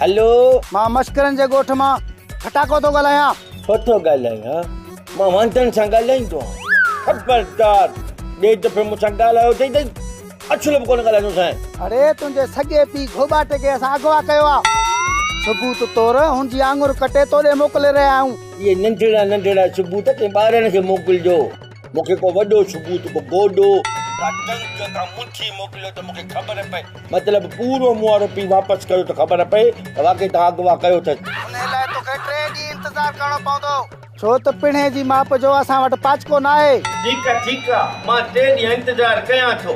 هلو مان مشڪرن جي ڳوٺ مان ڦٽاڪو ٿو ڳالهايان ڇو ٿو ڳالهايان مان واندن سان ڳالهائيندو آهيان خبردار ٻئي دفعي مون سان ڳالهايو اٿئي ته اڇلو به ڪونه ڳالهائيندو سانء اڙي تنهنجي سڳي پيء گهوٻاٽي کي اسان اغوا ڪيو آهي ثبوت طور هن جي آڱر ڪٽي توڏي موڪلي رهيا آهيون اهي ننڍڙا ننڍڙا ثبوت ڪنهن ٻارڙن کي موڪلجو مون کي ڪو وڏو ثبوت، ڪو گوڏو، ڪا ٽنڪ، ڪا مٺي موڪليو ته مون کي خبر پئي. مطلب پورو مون وارو پي واپس ڪيو ته خبر پئي ته واقعي توهان اغوا ڪيو اٿس. انهيء لاء تو کي ٽي ڏينهن انتظار ڪرڻو پوندو. ڇو ته پڻهي جي ماپ جو اسان وٽ پاچڪو ناهي. ٺيڪ آ، ٺيڪ آ، مان ٽي ڏينهن انتظار ڪيان ٿو.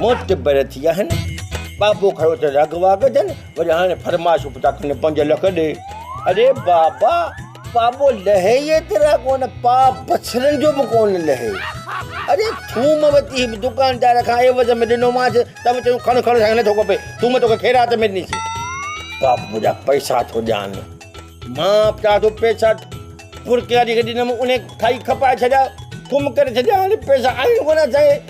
معتبر ٿي آهن. بابو کيو اٿس اغوا گدن، وري هاڻي فرمائش به ٿا ڪن پنج لک ڏي. اڙي بابا! پاٻو لهي ئي ايترا ڪونه، پاء بڇڙن جو به ڪونه لهي. اڙي ٿوم وتي دڪاندار کان عيوض ۾ ڏنومانس، ته به چيو کڻ کڻ سائين نٿو کپي، ٿوم توکي خيرات ۾ ڏنيسين. پاٻو جا پئسا ٿو ڏيان. مان به چاهيان ٿو پئسا ڦرڪياري کي ڏنم، انهي کائي کپائي ڇڏيا، ٿوم ڪري ڇڏيا، هاڻي پئسا آهن ڪونه سائين.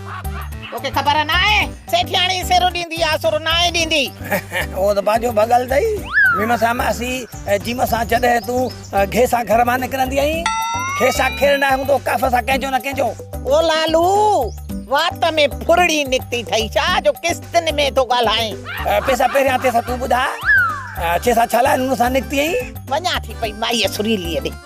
توکي خبر ناهي سيٺياڻي سر ڏيندي آ سر ناهي ڏيندي. اهو ته پنهنجو ڀڳل اٿئي. ميمڻ سان ماسي جيم سان جڏهن تون گهي سان گهر مان نڪرندي آهين کي سان کير ناهي هوندو ڪاف سان ڪنهنجو نه ڪنهنجو. او لالو وات ۾ ڦرڙي نڪتي ٿئي ڇا جو قسطن ۾ ٿو ڳالهائين. پيسا پهريان ٿي سان تون ٻڌاء کي سان ڇا لاء نونهن سان نڪتي ائين. وڃان ٿي پئي مائيء سريليء ڏي.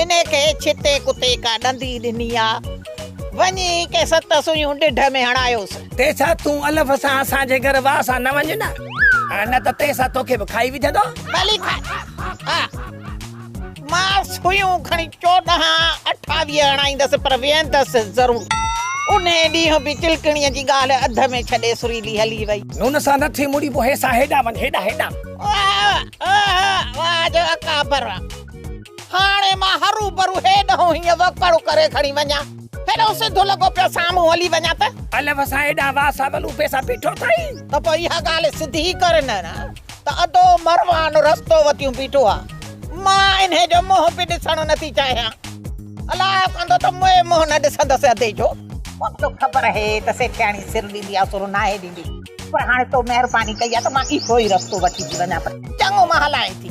انهي کي ڇتي ڪتي ڪا ڏندي ڏني آ. وڃي ڪي ست سوئيون ڏڍ ۾ هڻايوس. تيسا تون الف سان اسان جي گهر واء سان نه وڃ نه. نه ته تيسا توکي به کائي وجهندو. ڀلي کاء. مان سوئيون کڻي چوڏهن اٺاويهه هڻائيندس پر ويهندس ضرور. انهي ڏينهن به چلڪڻي جي ڳالهه اڌ ۾ ڇڏي سريلي هلي وئي. نون سان نه ٿي مڙي پو هيسان هيڏانهن وڃ هيڏانهن هيڏانهن. واء جو اڪابر. هاڻي مان هروڀرو هيڏهون هيئن وڪڙ ڪري کڻي وڃان. هيڏو سڌو لڳو پيو سامهون هلي وڃان ته. الف سان هيڏانهن واء سان ولوپي سان بيٺو ٿئي. ته پوء اها ڳالهه سڌي ڪر نه ته ادو مروان رستو وتيون بيٺو آ. مان انهي جو منهن به ڏسڻ نه ٿي چاهيان. الاء ڪندو ته مئي منهن نه ڏسندس ادي جو. مون کي خبر هي ته سيٺياڻي سر ڏيندي آ سر ناهي ڏيندي. پر هاڻي تو مهرباني ڪئي آ ته مان اهو ئي رستو وٺي ٿي وڃان. چڱو مان هلانء ٿي.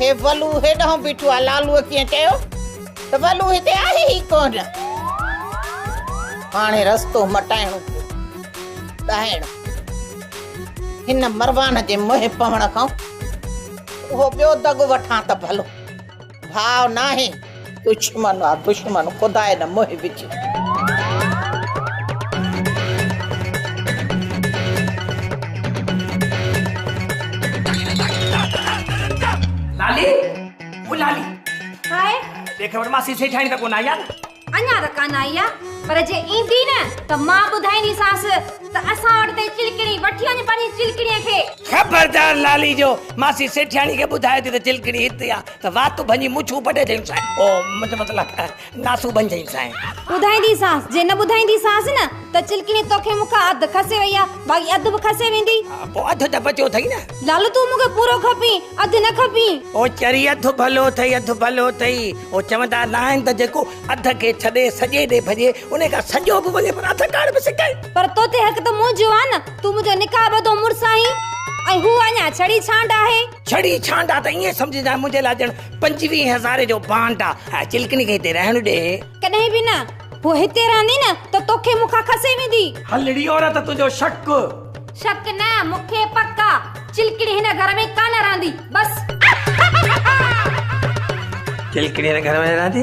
هي ولو هيڏانهن بيٺو آهي لالوء ڪيئن چيو ته ولو هتي آهي ئي ڪونه هاڻي رستو مٽائڻو پيو ڏاهڻ هن مروان جي منهن پوڻ کان اهو ٻيو دڳ وٺان ته ڀلو ڀاء ناهي دشمن آ دشمن خدا نه منهن وجهي. لالي او لالي هائي ڏي خبر ماسي سيٺاڻي ته ڪونه آئي آ نه اڃا ته ڪانه آئي آ پر جي ايندي نه ته مان ٻڌائينديسانس ته اسان وٽ تي چلڪڻي وٺي وڃ پنهنجي چلڪڻي کي خبردار لالي جو ماسي سيٺاڻي کي ٻڌائي ٿي ته چلڪڻي هتي آ ته واتون ڀڃي مڇون پٽي چيائون سائين او منهنجو مطلب ناسون ڀڃ چيائون سائين. ٻڌائينديسانس جي نه ٻڌائينديسانس نه ته چلڪڻي توکي مون کان اڌ کسي وئي آ باقي اڌ به کسي ويندي. پوء اڌ ته بچيو اٿئي نه. لالو تون مون کي پورو کپين اڌ نه کپين. او چري اڌ ڀلو اٿئي اڌ ڀلو اٿئي او چوندا ناهن ته جيڪو اڌ کي ڇڏي سڄي ڏي ڀڄي انهي کان سڄو به وڃي پر اڌ ڪاڻ به سڪائي. پر توتي حق ته منهنجو آ نه تون منهنجو نڪاح ٻڌو مڙس آهين ۽ هو اڃا ڇڙي ڇانڊ آهي. ڇڙي ڇانڊ آ ته ائين سمجهه جانء منهنجي لاء ڄڻ پنجويهه هزارين جو بانڊ آ. هاء چلڪڻي کي هتي رهڻ ڏي. ڪڏهن به نه. هوء هتي رهندي نه ته توکي مون کان کسي ويندي. هلڙي عورت تنهنجو شڪ. شڪ نه مون کي پڪ آ. چلڪڻي هن گهر ۾ ڪا نه رهندي. بس. چلڪڻي هن گهر ۾ نه رهندي.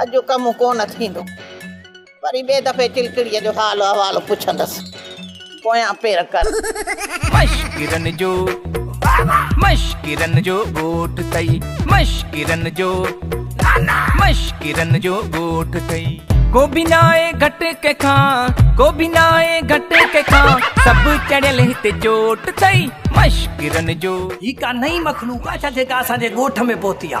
اڄ جو ڪم ڪونه ٿيندو. وري ٻئي دفعي چلڪڙيء جو حال احوال پڇندس. پويان پير ڪر. مشڪرن جو مشڪرن جو ڳوٺ ٿئي. مشڪرن جو مشڪرن جو ڳوٺ ٿئي. ڪو به ناهي گهٽ ڪنهن کان. ڪو به ناهي گهٽ ڪنهن کان. سڀ چڙهيل هتي چوٽ ٿئي. مشڪرن جو. هي ڪا نئين مخلوق آ ڇا جيڪا اسان جي ڳوٺ ۾ پهتي آ.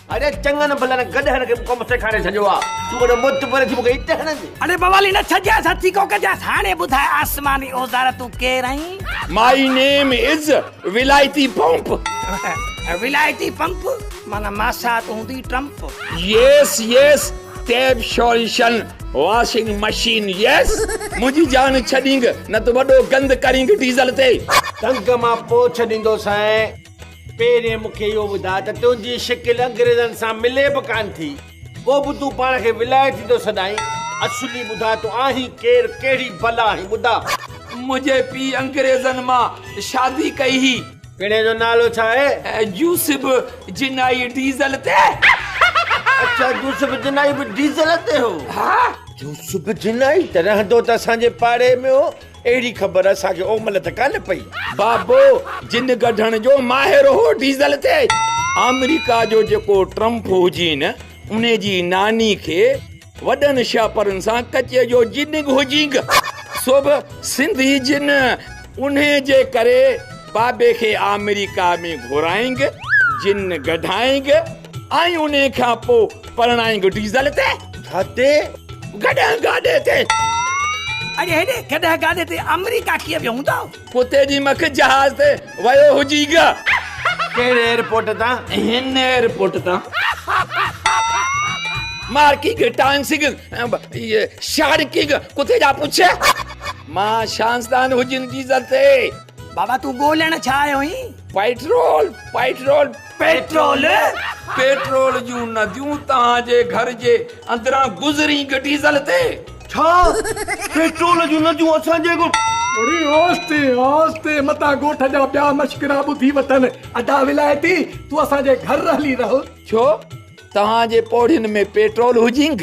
اڙي چڱن ڀلن گڏهن کي به ڪم سيکاري ڇڏيو آ تون وڏو مت پري ٿي مونکي هتي هڻندي. اڙي بوالي نه ڇڄيس هٿي ڪو ڪجيس هاڻي ٻڌاء آسماني اوزار تون ڪير آهين؟ مائي نيم از ولايتي پمپ. ولايتي پمپ معنيٰ ماسات هوندي Trump. Yes yes tape solution washing machine yes منهنجي جان ڇڏينگ نه ته وڏو گند ڪرينگ ڊيزل تي. ٽنگ مان پوڇ ڏيندوسانء. پهرين مون کي اهو ٻڌاء ته تنهنجي شڪل انگريزن سان ملي به ڪانه ٿي، پوء به تون پاڻ کي ولايتي ٿو سڏائين. اصلي ٻڌاء تون آهين ڪير، ڪهڙي بلا آهين ٻڌاء. منهنجي پيء انگريزن مان شادي ڪئي هئي. پڻهين جو نالو ڇا آهي؟ يوسف جنائي ڊيزل تي. اڇا يوسف جنائي به ڊيزل تي هو. ها. يوسف جنائي ته رهندو ته اسان جي پاڙي ۾ هو. اهڙي خبر اسان کي اومل ته ڪانه پئي. بابو جن ڪڍڻ جو ماهر هو ڊيزل تي. آمريڪا جو جيڪو ٽرمپ هجي نه ان جي ناني کي وڏن شاپرن سان ڪچي جو جنگ هجينگ سو به سنڌي جن انهي جي ڪري بابي کي آمريڪا ۾ گهرائينگ جن ڪڍائينگ. ۽ انهي کان پوء پرڻائينگ ڊيزل تي. جاتي گڏهه گاڏي تي. اڄ هيڏي گڏهه گاڏي تي آمريڪا ڪيئن ويو هوندو. ڪتي جي مک جهاز تي ويو هجي گا. ڪهڙي ايئرپورٽ تان. هن ايئرپورٽ تان. مارڪينگ ٽانسينگ شارڪينگ ڪتي جا پڇي. مان شانسدان هجين ڊيزل تي. بابا تون ڳولهڻ ڇا آيو هين. Petrol petrol. پيٽرول پيٽرول جون نديون توهان جي گهر جي اندران گذرين گه ڊيزل تي ڇا پيٽرول جون نديون اسان جي گهر اري آستي آستي متان گوٺ جا ٻيا مشڪرا ٻڌي وتن ادا ولايتي تون اسان جي گهر هلي رهل ڇو توهان جي پوڙهين ۾ پيٽرول هجينگ.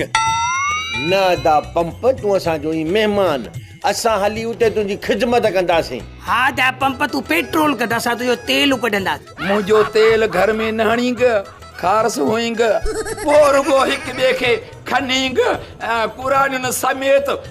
نه ادا پمپ تون اسان جو هين مهمان اسان هلي اتي تنهنجي خدمت ڪنداسين. ها ادا پمپ تون پيٽرول ڪڍ اسان تنهنجو تيل ڪڍنداسين. منهنجو تيل گهر ۾ نه هڻينگ کارس هئينگ. پوء رڳو هڪ ٻئي کي کنينگ ۽ ڪراڙين سميت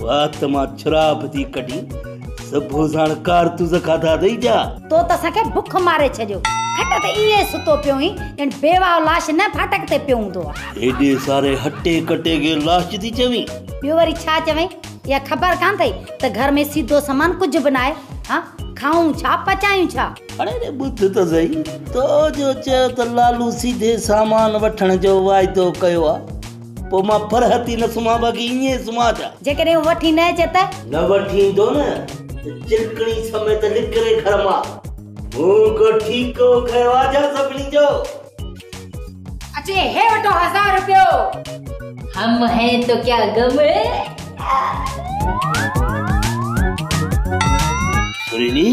وات مان ڇراپ ٿي ڪڍي سڀو ساڻ ڪارتوز کاڌا اٿئي جا. تو ته اسان کي بک ماري ڇڏيو. کٽ تي ائين ستو پيو هئين ڄڻ بيواهه لاش نه ڦاٽڪ تي پيو هوندو آ. هيڏي ساري هٽي ڪٽي کي لاش ٿي چوين. ٻيو وري ڇا چوين؟ اها خبر ڪانه اٿئي ته گهر ۾ سيڌو سامان ڪجهه به ناهي. ها کائون ڇا پچايون ڇا؟ اڙي ڙي ٻڌ ته سهي. تو جو چيو ته لالو سيڌي سامان وٺڻ جو واعدو ڪيو آ. پوء مان پرهتي نه سمهان باقي ائين ئي سمهان ڇا؟ جيڪڏهن هو وٺي نه اچي ته؟ نه وٺي ايندو نه ته چرڪڻي سميت نڪري گهر مان. مون ڪو ٺيڪو کنيو آ ڇا سڀني جو؟ اچي هي وٺو هزار روپيو. هم هين تو ڪيا غم هي. سريلي!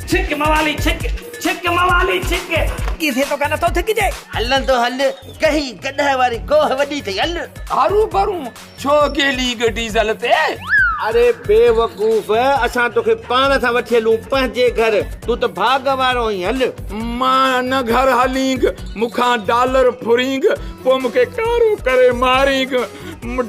ڇڪ موالي ڇڪ، ڇڪ موالي ڇڪ. ڪي ٿئي ٿو ڪا نٿو ٿڪجي. هلندو هل گهي گڏهه واري گوهه وڏي ٿئي هل. هارون ڀرون ڇو گيلي گهه ڊيزل تي. اري بي وقوف اسان توکي پاڻ سان وٺي هلون پنهنجي گهر تون ته ڀاڳ وارو آهين هل. مان ان گهر هلينگ مون کان ڊالر ڦرينگ پوء مون کي ڪارو ڪري مارينگ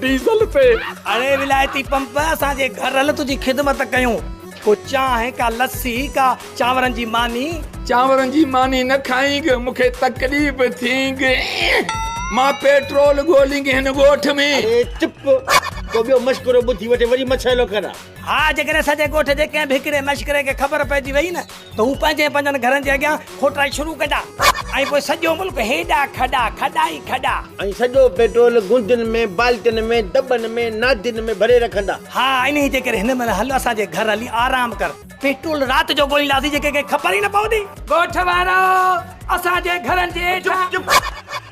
ڊيزل تي. اري ولايتي پمپ اسان جي گهر هل تنهنجي خدمت ڪيون. ڪو چانهه، ڪا لسي، ڪا چانورن جي ماني. چانورن جي ماني نه کائينگ، مون کي تڪليف ٿينگ. مان پيٽرول ڳولينگ هن ڳوٺ ۾. اڙي چپ، ڪو ٻيو مشڪرو ٻڌي وٺي وري مڇيلو ڪران. ها، جيڪڏهن سڄي ڳوٺ جي ڪنهن به هڪڙي مشڪري کي خبر پئجي ويئي نه ته هو پنهنجي پنهنجن گهرن جي اڳيان کوٽائي شروع ڪجا ۽ پوء سڄو ملڪ هيڏا کڏا، کڏا ئي کڏا. ۽ سڄو پيٽرول گندين ۾، بالٽين ۾، دٻن ۾، نادين ۾ ڀري رکندا. ها انهي جي ڪري هن مهل هل اسان جي گهر هلي آرام ڪر. پيٽرول رات جو ڳولينداسين جي ڪنهن کي خبر ئي نه پوندي. ڳوٺ وارو! اسان جي گهرن جي هيٺان. چپ چپ!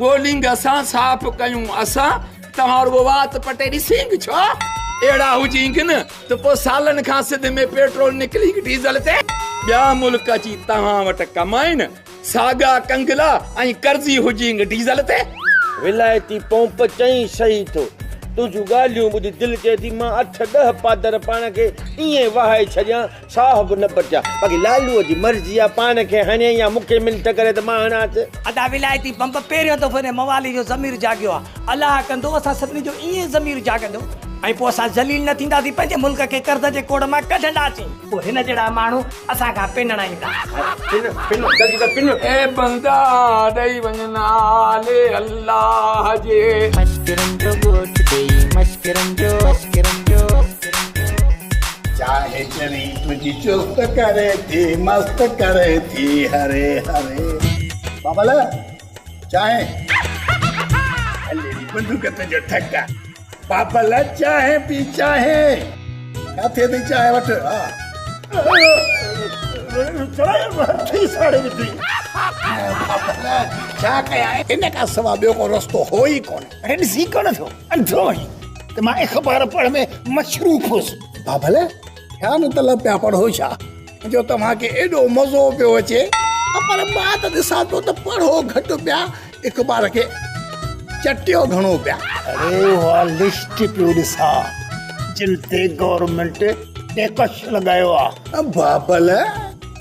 گو لينگ اسان صاف ڪيون اسان توهان رڳو وات پٽي ڏسينگ ڇا اهڙا هجينگ نه ته پوء سالن کان سنڌ ۾ پيٽرول نڪلينگ ڊيزل تي ٻيا ملڪ اچي توهان وٽ ڪمائين ساڳا ڪنگلا ۽ قرضي هجينگ ڊيزل تي ولائتي پونپ چئي سهي ٿو تنهنجون ڳالهيون ٻڌي دل چئي ٿي مان اٺ ڏهه پادر پاڻ کي ائين وهائي ڇڏيان ساهه به نه پٽيا. باقي لالوء جي مرضي آ، پاڻ کي هڻي يا مون کي منٿ ڪري ته مان هڻانس. ادا ولايتي بمب پهريون دفعو هن موالي جو ضمير جاڳيو آ. الله ڪندو اسان سڀني جو ائين ئي ضمير جاڳندو ۽ پوء اسان ذليل نه ٿينداسين پنهنجي ملڪ کي قرض جي ڪوڙ مان ڪڍنداسين. پوء هن جهڙا ماڻهو اسان کان پنڻ ايندا. پنڻ پنڻ جلدي ڪر پنڻ. اي بندا ڏئي وڃ نالي الله جي. مشڪرن جو ڳوٺ ڏئي مشڪرن جو. چاهي چري تنهنجي چست ڪري ٿي مست ڪري ٿي هري هري بابل چاهي بندوق تنهنجو ٺڪ آ بابل چاهي پي چاهي ڪاٿي تي چاهي وٺ چاهي وٺي ساڙي وڌي بابل ڇا ڪيا ان کان سوا ٻيو ڪو رستو هو ئي ڪونه ۽ ڏسي ڪونه ٿو انڌو آهين ته مان اخبار پڙهڻ ۾ مصروف هوس ها ڀلي ڇا مطلب پيا پڙهو ڇا جو توهان کي ايڏو مزو پيو اچي پر مان ته ڏسان ٿو ته پڙهو گهٽ پيا اخبار کي چٽيو گهڻو پيا اڙي اها لسٽ پيو ڏسان جن تي گورنمينٽ ٽيڪس لڳايو آهي بابل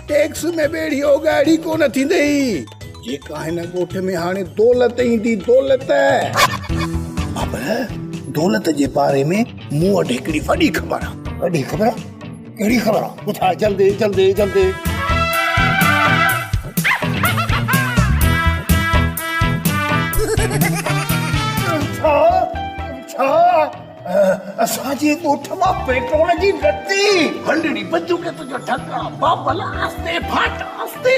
ٽيڪس ۾ ٻيڙي او ڳاڙهي ڪونه ٿيندئي. جيڪا هن ڳوٺ ۾ هاڻي دولت ايندي، دولت. بابر، دولت جي باري ۾ مون وٽ هڪڙي وڏي خبر آ. وڏي خبر؟ ڪهڙي خبر آ؟ ٻڌاء جلدي جلدي جلدي. اسان جي ڳوٺ مان پيٽرول جي لتي هلڙي بندوق تنهنجو ڍڪا بابل آهستي ڦاٽ آهستي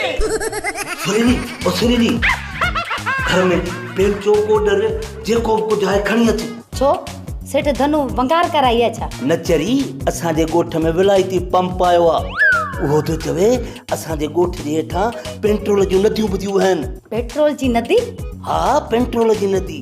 سريلي او سريلي گهر ۾ پيل چوڪو ڏر جيڪو به ڪجهه آهي کڻي اچ ڇو سيٺ ڌنو ونگار ڪرائي آهي ڇا. نچري اسان جي ڳوٺ ۾ ولايتي پمپ آيو آ اهو ٿو چوي اسان جي ڳوٺ جي هيٺان پينٽرول جون نديون ٻڌيون وهن. پيٽرول جي ندي؟ ها پينٽرول جي ندي.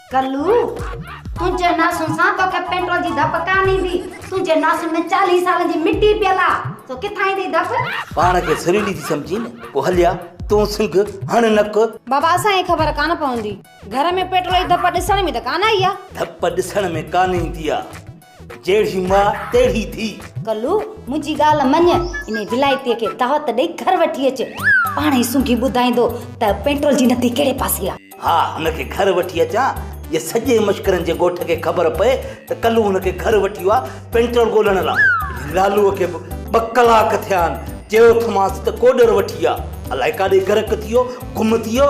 ڪلو! تنهنجي ناسن سان توکي پيٽرول جي ڌپ ڪانه ايندي. تنهنجي ناسن ۾ چاليهه سالن جي مٽي پيل آ، سو ڪٿان ايندي ڌپ؟ پاڻ کي سريلي ٿي سمجهين، پوء هليا، تون سنگهه هڻ نڪ. بابا اسان کي خبر ڪانه پوندي. گهر ۾ پيٽرول جي ڌپ ڏسڻ ۾ ته ڪانه آئي آ. ڌپ ڏسڻ ۾ ڪانه ايندي آ. جهڙي ماء تهڙي ڌيء. ڪلو، منهنجي ڳالهه مڃ، انهي ولائتيء کي دعوت ڏئي گهر وٺي اچ. پاڻ ئي سونگهي ٻڌائيندو ته پيٽرول جي نتي ڪهڙي پاسي آ. ها، هن کي گهر وٺي اچان، جي سڄي مشڪرن جي ڳوٺ کي خبر پئي ته ڪلو هن کي گهر وٺي ويو آ، پيٽرول ڳولڻ لاء. لالوء کي به ٻه ڪلاڪ ٿيا آهن. چيو ٿمانس ته ڪوڏر وٺي آ. الائي ڪاڏي غرق ٿي ويو، گم ٿي ويو.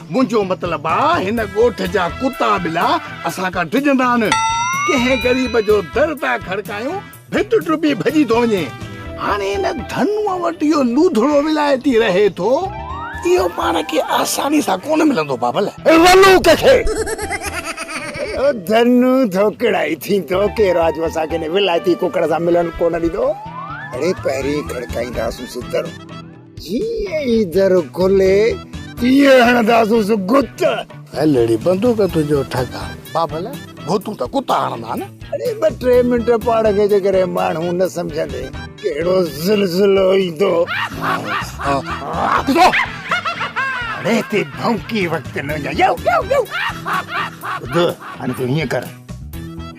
منهنجو مطلب آ هن ڳوٺ جا ڪتا ٻلا اسان کان ڊڄندا نه. ڪنهن غريب جو در ٿا کڙڪايون، ڀت ٽپي ڀڄي ٿو وڃي. هاڻي هن ڌنوء وٽ اهو لوڌڙو ولايتي رهي ٿو، اهو پاڻ کي آساني سان ڪونه ملندو بابل. رلوڪ کي اهو ڌنو ڌوڪڙائي ٿيندو، ڪي راڄو اسان کي هن ولايتي ڪڪڙ سان ملڻ ڪونه ڏيندو. اڙي پهرين کڙڪائينداسون سي در. جيئن ئي در کلي تيئن هڻنداسونس گت. هل اڙي بندوق تنهنجو ٺڪ آ. بابل ڀوتون ته ڪتا هڻندا آهن. اڙي ٻه ٽي منٽ پاڻ کي جيڪڏهن ماڻهو نه سمجهندين ڪهڙو زلزلو ايندو. اڙي هتي ڀونڪي وقت نه وڃاء يو يو يو. ٻڌ هاڻي تون هيئن ڪر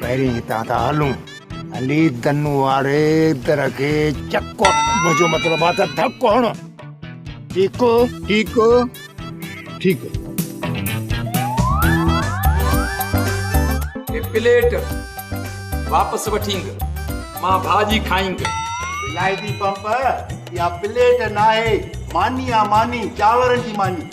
پهرين هتان ٿا هلون. علي دن واري در کي چڪ منهنجو مطلب آ ته ڌڪ هڻ ٺيڪ ٺيڪ ٺيڪ هي پليٽ واپس وٺينگ مان ڀاڄي کائينگ ولائتي پمپ اها پليٽ ناهي ماني آ ماني چانورن جي ماني.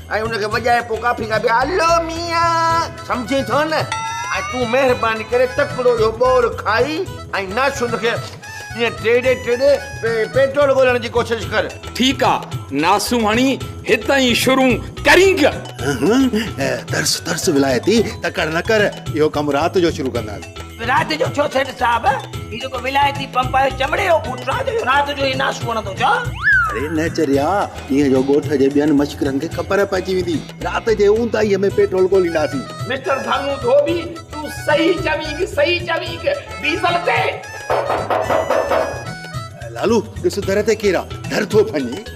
۽ ان کي وڄائي پوء ڪافي کان به الو ميان سمجهين ٿو نه ۽ تون مهرباني ڪري تڪڙو اهو ٻور کائي ۽ ناسون کي ائين ٽيڙي ٽيڙي پيٽرول ڳولڻ جي ڪوشش ڪر. ٺيڪ آ ناسون هڻي هت ئي شرون ڪرينگ. ترس ترس ولايتي تڪڙ نه ڪر اهو ڪم رات جو شروع ڪنداس. رات جو ڇو سيٺ صاحب هي جيڪو ولايتي پمپ آهي چمڙي جو بوٽ سان جو رات جو هي ناسو وڻندو ڇا اري نه چريا ايئن جو ڳوٺ جي ٻين مشڪرن کي خبر پئجي ويندي رات جي اونداهي ۾ پيٽرول ڳولينداسين مسٽر ڌنو ڌوٻي تون صحيح چوينگ صحيح چوينگ ڊيزل تي لالو ڏس در تي ڪير آ در ٿو ڀڃي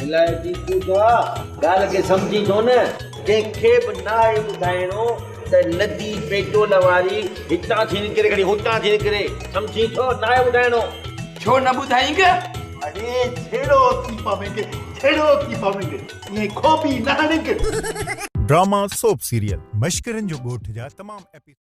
ڀلائي جي پوجا ڳالهه کي سمجهي ٿو نه. ڪنهن کي به ناهي ٻڌائڻو ته ندي پيٽول واري هتان ٿي نڪري گهڙي هتان ٿي نڪري سمجهي ٿو ناهي ٻڌائڻو. ڇو نه ٻڌائينگ. اڙي جھيڙو ٿي پوينگ جھيڙو ٿي پوينگ ائين کوٻي نه هڻينگ. ڊراما سوپ سيريل مشڪرين جو ڳوٺ جا تمام ايپيسوڊ.